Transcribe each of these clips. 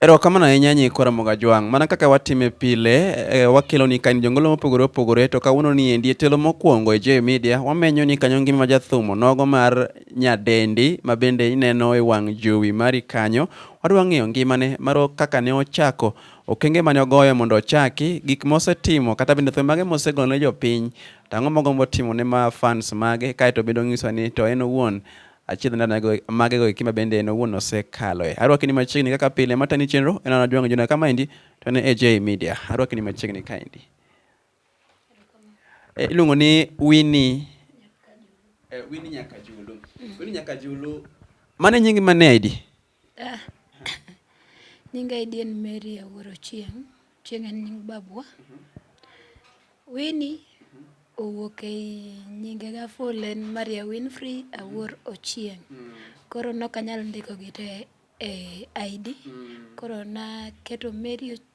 Erokamano ahinya Nyikwa Ramogi Ajwang'. Mana kaka watime pile, e, wakeloni ka in jongolo mopogore opogore to kawuono ni endi e telo mokwongo e J Media wamenyo ni kanyo ngima jathumo nogo mar nyadendi ma bende ineno e wang' jowi mari kanyo. Wadwa ng'eyo ngimane maro kaka ne ochako okenge mane ogoyo mondo ochaki gik mosetimo kata bende thum mage mosegolo ne jopiny to ang'o mogombo timo ne ma fans mage kaeto bende onyiso ni to en owuon Achiedh ndana go- mage goeki ma bende en owuon osekaloe. Arwakini machiegni kaka pile matani chenro en an Ajwang' Juna kamaendi to ne AJ Media. Arwakini machiegni kaendi. E, iluongo ni Winnie eh, Winnie Nyakajulu. Winnie Nyakajulu mane nyingi mane aidi? Ah, nyinga idien Mary Awuoro Chieng', Chieng' en nying babwa. Winnie owuok ei nyinge ga full en Maria Winfrey Awuor Ochieng'. Koro nok anyal ndiko gi te e ID. Koro naketo Mary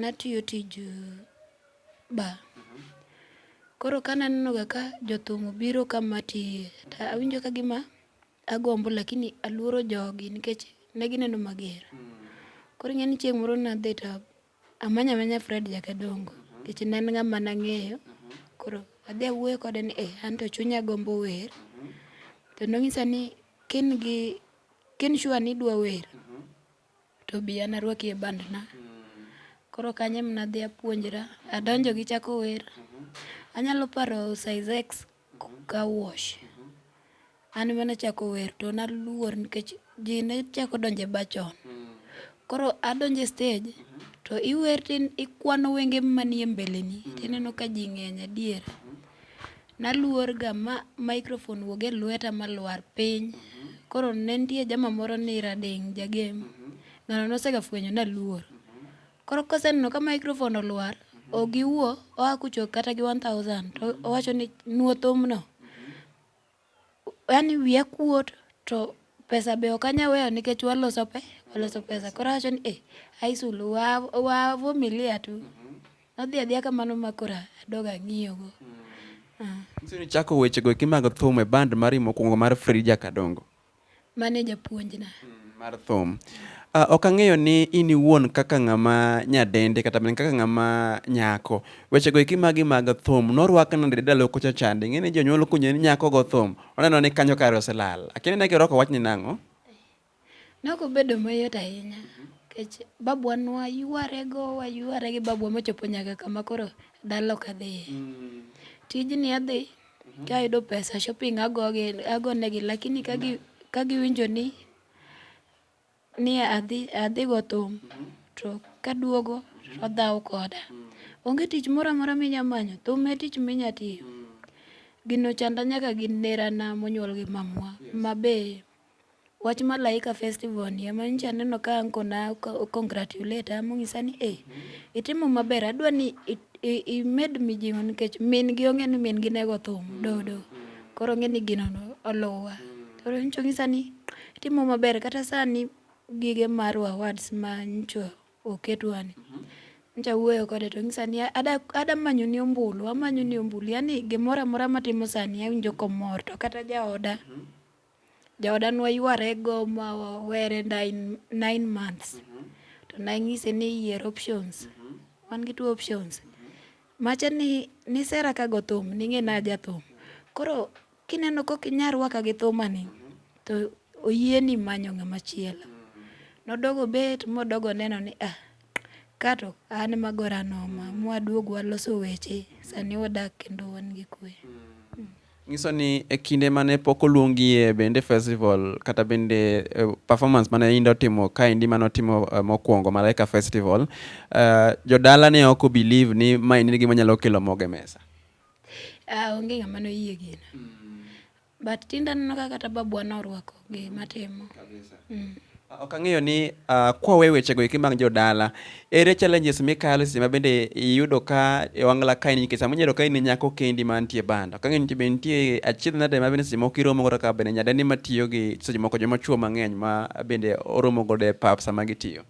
Natiyo tij ba. Koro ka nanenoga ka jothum obiro ka matiye, to awinjo ka gima agombo lakini aluoro jogi nikech ne gineno mager. Koro ing'e ni chieng' moro nadhi to amanya manya Fred Jakadongo nikech ne en ng'ama nang'eyo. Koro adhi awuoyo kode ni eh, anto chunya gombo wer. To nong'isa ni ka in gi, ka in sure ni idwa wer, to bi an arwaki e bandna. Koro kanyo ema nadhi apuonjra, adonjo gi chako wer. Anyalo paro size X ka wash. An ema nachako wer to naluor nikech ji ne chako donjo e bar chon. Koro adonjo e stage to iwer to ikwano wenge manie mbeleni to ineno ka ji ng'eny adier. Naluor ga ma microphone wuog e lweta ma lwar piny. Koro ne nitie jama moro ni Rading Jagem. Ng'ano nosega fwenyo naluor. Koro koseneno ka microphone olwar, ok giwuo, oa kucho kata gi 1000 to owacho ni nuo thumno. Yaani wiya kuot to pesa be ok anyal weyo nikech waloso pe, waloso pesa. Koro awacho ni eh, ai sulu wa wa vumilia tu. Adhi adhiya kamano ma koro adoga ang'iyogo. Nyiso ni chako wechego eki mag thum e band mari mokwongo mar Frija Kadongo. Mane japuonjna. Mar thum. Ah, ok ang'eyo ni in iwuon kaka ng'ama nyadende kata mana kaka ng'ama nyako. Wechego eki magi mag thum norwak nade ndalo kocha chande? Ing'e ni jonyuol kunyo ni nyako go thum, oneno ni kanyo kare oselal. Akia ni ne girwako wachni nang'o? Nogo bedo mayot ahinya nikech babwa nwa ywarego wayware gi babwa mochopo nyaka kama koro dala ok adhiye. Mm. Tijni adhi mhm. ka ayudo pesa shopping agogi agonegi lakini ka gi ka giwinjo ni ni adhi adhi go thum mhm. to kaduogo mhm. to dhaw koda. Mm. Onge tich moro amora minya manyo thum e tich minya tiyo. Mm. Gino chanda nyaka gi nerana monyuol gi mamwa mabe Wach Malaika Festival ni ema nyicha aneno ka anko na congratulate ama onyisa ni eh, itimo maber adwa ni imed mijing'o nikech min gi ong'e ni min gi nego thum mm. dodo koro ong'e ni gino oluwa mm. koro nyicha onyisa ni itimo maber kata sani gige mar awards ma nyicha oketwani mm-hmm. nyicha wuoyo kode to onyisa ni ada manyo ni ombulu amanyo ni ombulu yani gimoro amora matimo sani awinjo komor to kata jaoda mm -hmm. Jaoda ne waywarego ma were nine months to nanyise ni yier options. Wan gi two options. Macha ni nisera ka go thum, ning'e ni aja thum. Koro kineno kok inya rwaka gi thumani to oyieni manyo ng'ama chielo. Nodok obet modok oneno ni ah, ka to an ema agora noma. Mwaduog waloso weche, sani wadak kendo wan gi kwe. Nyiso ni e kinde mane pok oluongie bende festival kata bende uh, performance mane Inda otimo kaendi mane otimo uh, mokwongo Malaika Festival, uh, jodala ne ok believe ni ma en gima nyalo kelo moge mesa. Uh, onge ng'ama noyie gino. Mm. But tinda neno kaka kata babwa norwako gima timo kabisa mm. Ok ang'eyo ni uh, kwawe wechego eki mag jodala, ere challenges mikalo seche ma bende iyudo ka e wang'la ka in nikech sama inyalo ka in nyako kendi mantie banda. Ok ang'eyo ni be nitie achiedh nade ma bende seche moko iromo godo ka bende nyadendi matiyo gi seche moko joma chwo mang'eny ma bende oromo godo e pap sama gitiyo.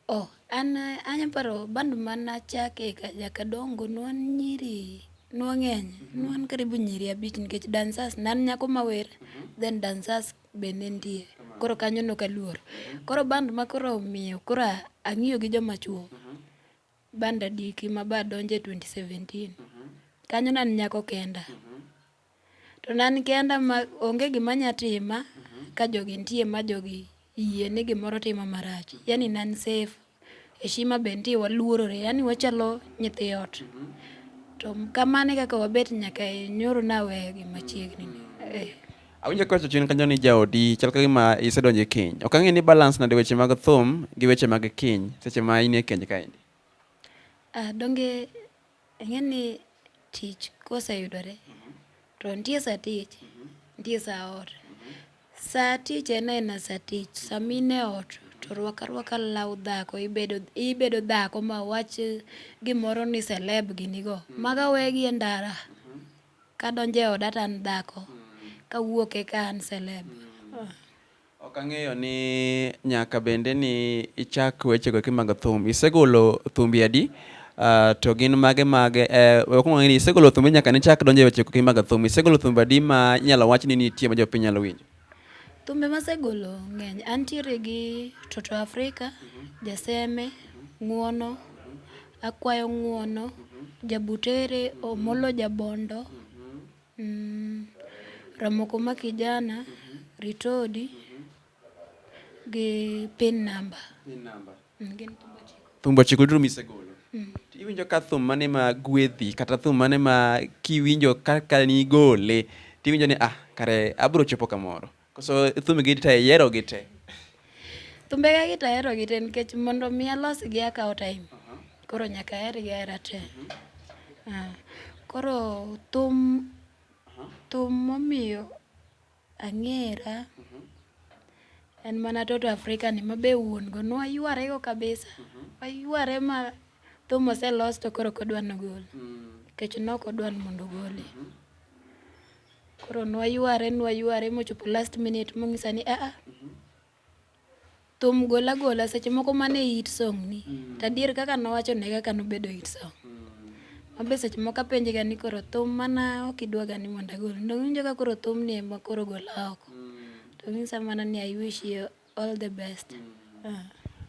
Oh, an anya paro band mana chake ka jaka dongo nwan nyiri nwang'eny nwan karibu nyiri abich nikech dancers nan nyako mawer then dancers be ne nitie koro kanyo nok aluor koro band ma koro omiyo koro a- ang'iyo gi joma chuo band adiki ma ba donje 2017 kanyo nan nyako kenda To ne an kenda ma onge gima nya tima ka jogi nitie ma jogi yie ni gimoro tima marach. Yani ne an safe, heshima be nitie waluorore, yani wachalo nyithi ot. To kamano e kaka wabet nyaka e nyoro naweyo gi machiegni ni. Eh. Awinjo ka chien kanyo ni jaodi chal ka gima isedonjo e keny. Ok ang'e ni balance nade weche mag thum gi weche mag keny seche ma in e keny kaendi. Ah, donge Ing'e ni tich koseyudore to nitie sa tich, nitie sa ot. Sa tich en aena sa tich, sama in e ot to rwak arwaka law dhako, ibedo ibedo dhako ma wach gimoro ni celeb gini go. Mago awegi e ndara, kadonjo e oda to an dhako, kawuok eka an celeb. Ok ang'eyo ni nyaka bende ni ichak weche go kimago thum. Isegolo thumbi adi? Uh, to gin mage mage eh, wakwongo ng'eyo ni isegolo thumbi nyaka nichak donjo e weche go kimago thum. Isegolo thumbi adi ma inyalo wach ni nitie ma jopiny nyalo winjo? Thumbe masegolo ng'eny. Antiere gi Toto Afrika, Jaseme, Ng'uono, Akwayo Ng'uono, Jabutere, Omolo Jabondo, Mm, Ramokoma Kijana, Ritodi gi pin namba. Pin namba. Mm, gin thumbe ochiko. Thumbe ochiko duto misegolo. Mm. Iwinjo ka thum mane ma gwedhi kata thum mane ma kiwinjo kaka nigole tiwinjo ni ah kare abro chopo kamoro. Koso thumbigi to iyiero gi te? Thumbega gi to ahero gi te nikech mondo mi alosgi akawo time. Koro nyaka ahergi ahera te. Ah, Koro thum thum momiyo ang'era en mana Toto Africa ni ma be wuon go nwayware go kabisa. Wayware ma thum oselos to koro ok odwa nogol. Nikech nok odwa ni mondo ogole. Koro nwayware nwayware mochopo last minute mong'isa ni aa thum gola gola seche moko mane hit song ni mm. tadier kaka nowacho ne kaka nobedo hit song mm. mabe seche moko apenje ga ni koro thum mana ok idwa ga ni mondo agol ndowinjo ka koro thum ni ema koro gola oko mm. to ng'isa mana ni i wish you All the best. Uh.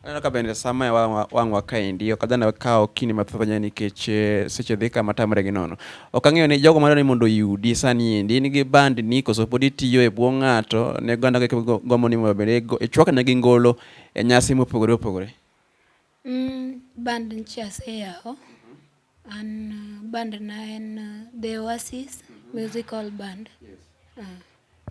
Aneno ka bende sama e wang' wa kaendi ok adhana kawo kinde mathoth ahinya nikech eh, seche dhi kama tamre gi nono. Ok ang'eyo ni jogo madwaro ni mondo oyudi sani endi in gi band ni koso pod itiyo e bwo ng'ato ne oganda gombo ni mondo bende ichwakna gi ngolo e nyasi mopogore opogore. Mm, band nchi aseyawo mm-hmm. an uh, band na en uh, the oasis mm -hmm. musical band yes. uh.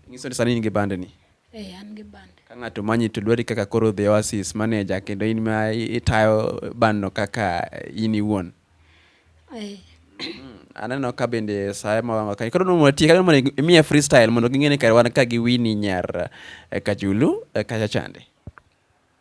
nyiso ni sani in gi band ni eh, an gi band ka ng'ato manyi to dwari kaka koro the oasis manager kendo in ma itayo band no kaka in iwuon eh. Mm-hmm. aneno ka bende saye mawanga kani koro nomo tie kani mondo imiye freestyle mondo ging'e ni kare wan ka gi wini nyar eh, kajulu eh, kacha chande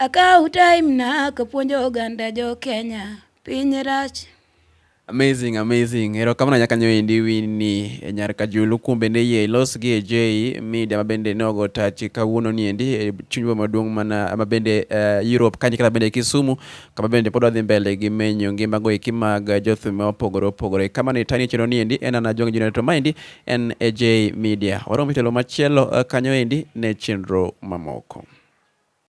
Akaw time na kapuonjo oganda jo Kenya piny rach. Amazing, amazing. Erokamano nyaka nyo endi Winnie e nyar Kajulu kuom bende yie ilos gi e J media mabende ne ogo tachi kawuono ni endi e chunywa maduong' mana mabende uh, eh, Europe kanyo kata bende Kisumu kama bende pod wadhi mbele gi menyo ngima go eki mag jothum ma opogore opogore. Kama ni tani chero ni endi en ana jong junior to maendi en e J media. Oromo telo machielo eh, kanyo endi ne chenro mamoko.